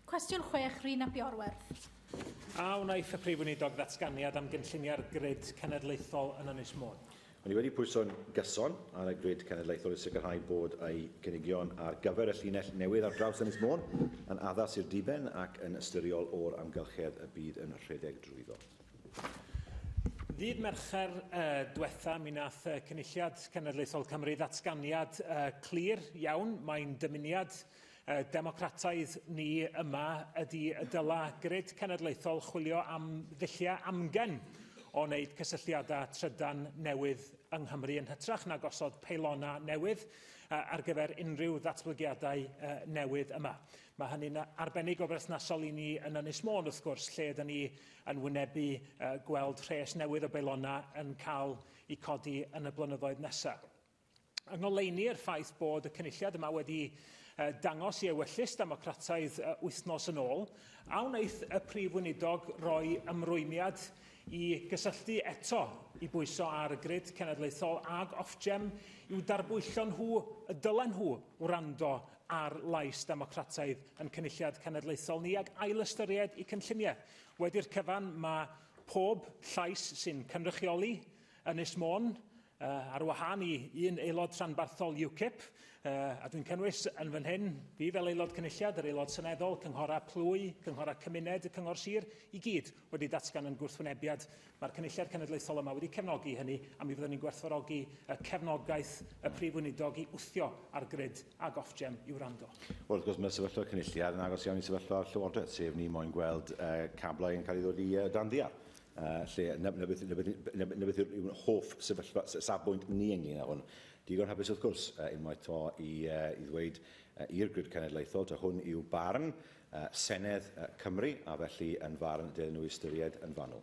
Cwestiwn 6, Rhun ap Iorwerth. A wnaeth y Prif Weinidog ddatganiad am gynlluniau'r grid cenedlaethol yn Ynys Môn? Mae ni wedi pwyso'n gyson ar y grid cenedlaethol i sicrhau bod ei gynigion ar gyfer y llinell newydd ar draws Ynys Môn yn addas i'r diben ac yn ystyriol o'r amgylchedd y bydd yn rhedeg drwyddo. Ddydd Mercher uh, diwetha, mi nath uh, Cynulliad Cenedlaethol Cymru ddatganiad uh, clir iawn. Mae'n dymuniad Y Democrataidd ni yma ydy y dyla grid cenedlaethol chwilio am ddulliau amgen o wneud cysylltiadau trydan newydd yng Nghymru yn hytrach na gosod peilona newydd ar gyfer unrhyw ddatblygiadau newydd yma. Mae hynny'n arbennig o berthnasol i ni yn Ynys Môn, wrth gwrs, lle ydyn ni yn wynebu gweld rhes newydd o beilona yn cael eu codi yn y blynyddoedd nesaf. Yng ngoleuni i'r ffaith bod y cynulliad yma wedi dangos i ewyllys democrataidd wythnos yn ôl, a wnaeth y Prif Weinidog roi ymrwymiad i gysylltu eto i bwyso ar y grid cenedlaethol ag Ofgem i'w darbwyllo nhw y dylen nhw wrando ar lais democrataidd yn cynulliad cenedlaethol ni ac ailystyried i cynlluniau. Wedi'r cyfan mae pob llais sy'n cynrychioli Ynys Môn, ar wahân i un aelod rhanbarthol UKIP, a dwi'n cynnwys yn fan hyn, fi fel aelod cynulliad, yr aelod seneddol, cynghorau plwy, cynghorau cymuned, y cyngor sir, i gyd wedi datgan yn gwrthwynebiad. Mae'r cynulliad cenedlaethol yma wedi cefnogi hynny, a mi fyddwn ni'n gwerthfawrogi cefnogaeth y Prif Weinidog i wthio ar grid ag Ofgem i wrando. Wrth gwrs, mae sefyllfa cynulliad yn agos iawn i sefyllfa'r Llywodraeth, sef ni moyn gweld cablau yn cael ei ddod i dan ddial. Uh, lle, na, na, beth, na, beth, na, na beth yw'n hoff sefyllfa, safbwynt ni ynglyn â hwn. Digon hapus wrth gwrs, uh, unwaith to i, uh, i ddweud uh, i'r grid cenedlaethol, ta hwn yw barn uh, Senedd uh, Cymru, a felly yn farn dylai nhw ystyried yn fanwl.